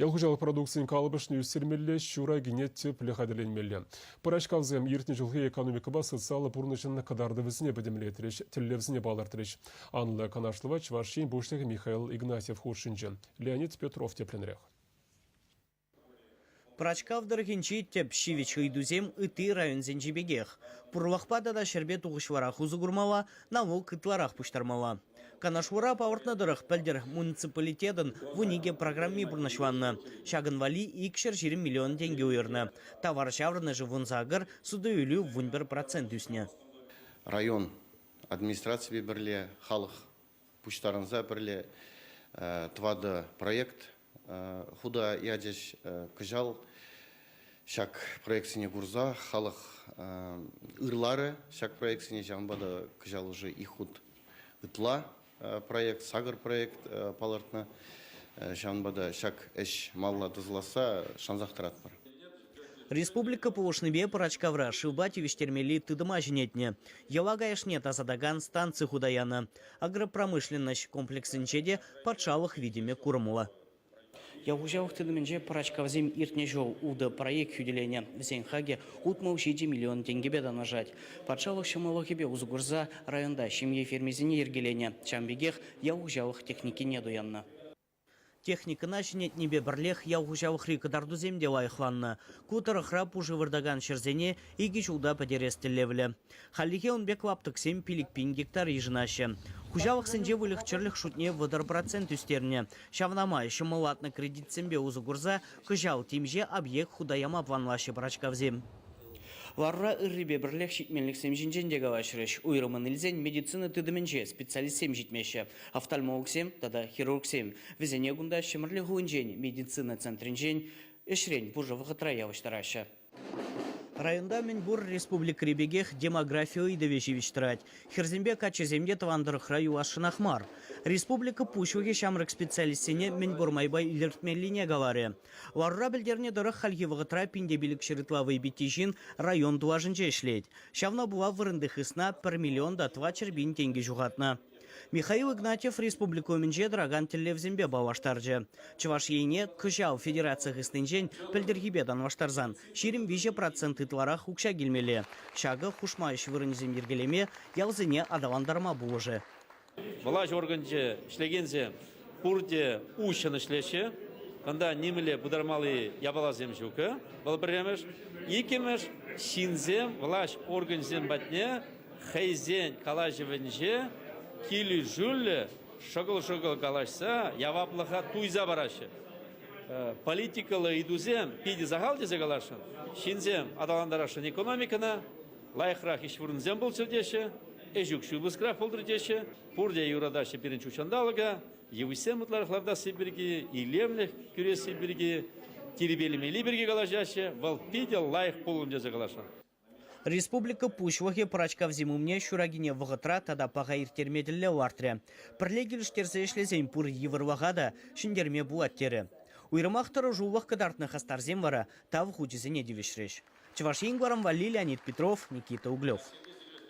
Ял хуҫалӑх продукцийӗн калӑпӑшне ӳстермелле, ҫур акине тӗплӗ хатӗрленмелле. Пӑрачкавсем иртнӗ ҫулхи экономикӑпа социаллӑ пурнӑҫӑн кӑтартӑвӗсене пӗтӗмлетрӗҫ, тӗллевсене палӑртрӗҫ. Анлӑ канашлӑва Чӑваш Ен Пуҫлӑхӗ Михаил Игнатьев хутшӑнчӗ. Леонид Петров тӗплӗнрех. Пӑрачкав тӑрӑхӗнчи тӗп ҫивӗч ыйтусем ытти районсенчи пекех. Пурлӑхпа тата ҫӗрпе тухӑҫлӑрах усӑ курмалла, налук ытларах пуҫтармалла. Канашлура палӑртнӑ тӑрӑх, пӗлтӗр муниципалитетӑн вун икӗ программи пурнӑҫланнӑ. Ҫакӑн валли икҫӗр ҫирӗм миллион тенкӗ уйӑрнӑ. Тавар ҫаврӑнӑшӗ вун сакӑр, суту-илӳ вун пӗр процент ӳснӗ. Район администрацийӗпе пӗрле халӑх пуҫтарӑнса пӗрле тӑватӑ проект хута ячӗҫ. Кӑҫал ҫак проектсене курса халӑх ырларӗ ҫак проектсене. Ҫавӑнпа та кӑҫал уже их хут ытла проект, сакӑр проект палӑртнӑ. Ҫавӑнпа та ҫак ӗҫ малла тӑсӑласса шансах тӑратпӑр. Республика пулӑшнипе Пӑрачкавра шывпа тивӗҫтермелли тытӑма ҫӗнетнӗ, йӑла каяшне тасатакан станци хута янӑ. Агропромышленноҫ комплексӗнче те патшалӑх витӗмӗ курӑмлӑ. Ял хуҫалӑх тытӑмӗнче Пӑрачкавсем иртнӗ ҫул утӑ проект хӳтӗленӗ. Вӗсен хакӗ утмӑл ҫичӗ миллион тенкӗпе танлашать. Патшалӑх ҫӑмӑллӑхӗпе усӑ курса районта ҫемье фермисене йӗркеленӗ. Ҫавӑн пекех ял хуҫалӑх техникине туяннӑ. Техникӑна ҫӗнетнипе пӗрлех ял хуҫалӑхри кӑтартусем те лайӑхланнӑ. Ку тӑрӑхра пушӑ выртакан ҫӗрсене икӗ ҫулта пӗтерес тӗллевлӗ. Хальлӗхе ун пек лаптӑксем пилӗк-пин гектар йышӑнаҫҫӗ. Хуҫалӑхсенче выльӑх-чӗрлӗх шутне вӑтӑр процент ӳстернӗ. Ҫавна май ҫӑмӑллатнӑ кредитсемпе усӑ курса кӑҫал темиҫе объект хута яма планлаҫҫӗ пӑрачкавсем. Ларура ыррипе пӗрлех ҫитменлӗхсем ҫинчен те калаҫрӗҫ. Уйрӑммӑн илсен медицина тытӑмӗнче специалистсем ҫитмеҫҫӗ. офтальмологсем тата хирургсем. Вӗсене кунта Ҫӗмӗрле хулинчен медицина центрӗнчен ӗҫрен пушӑ вӑхӑтра явӑҫтараҫҫӗ. Районта мӗн пур республикӑри пекех демографи ыйтӑвӗ ҫивӗч тӑрать. Хӗрсемпе каччӑсем те тӑван тӑрӑхра юласшӑнах мар. Республика пуҫлӑхӗ ҫамрӑк специалистсене мӗн пур майпа илӗртмеллине каларӗ. Ларура пӗлтернӗ тӑрӑх, хальхи вӑхӑтра пин те пилӗк ҫырытла вӑй питти ҫын район тулашӗнче ӗҫлет. Ҫавна пула вырӑнти хысна пӗр миллион та тӑватҫӗр пин тенкӗ ҫухатнӑ. Михаил Игнатьев республика умӗнче тӑракан тӗллевсемпе паллаштарчӗ. Чӑваш Енне кӑҫал федераци хыснинчен пӗлтӗрхипе танлаштарсан ҫирӗм виҫӗ процент ытларах укҫа килмелле. Ҫакӑ хушма ӗҫ вырӑнӗсем йӗркелеме, ялсене аталантарма пулӑшӗ. Влаҫ органӗнче ӗҫлекенсем Пурте уҫҫӑн ӗҫлеҫҫӗ. Кунта нимӗнле пытармалли япаласем ҫук. Вӑл пӗрремӗш. Иккӗмӗш, ҫынсем, влаҫ органӗсем патне хӑйсен калаҫӑвӗнче килӗшӳллӗ шӑкӑл-шӑкӑл калаҫса яваплӑха туйса параҫҫӗ. Политикӑллӑ ыйтусем питӗ сахал тесе каласшӑн. Ҫынсем аталантарасшӑн экономикӑна, лайӑхрах ӗҫ вырӑнсем пулччӑр теҫҫӗ, ӗҫ укҫи пыскрах пултӑр теҫҫӗ. Пурте юратаҫҫӗ пирӗн ҫутҫанталӑка, йывӑҫсем ытларах лартасси пирки, илемлӗх кӳресси пирки, тирпейлемелли пирки калаҫаҫҫӗ. Вӑл питӗ лайӑх пулӑм тесе каласшӑн. Республика Пуҫлӑхӗ пӑрачкав зим умне ҫуракине вӑхӑтра тата паха ирттерме тӗллев лартрӗ. Пӗрле килӗштерсе ӗҫлесен пур йывӑрлӑха та ҫӗнтерме пулать терӗ. Уйрӑмах тӑрӑшулӑх кӑтартнӑ хастарсем вара Тав хучӗсене тивӗҫрӗҫ. Чӑваш Ен кӑларӑмпа Леонид Петров, Никита Углев.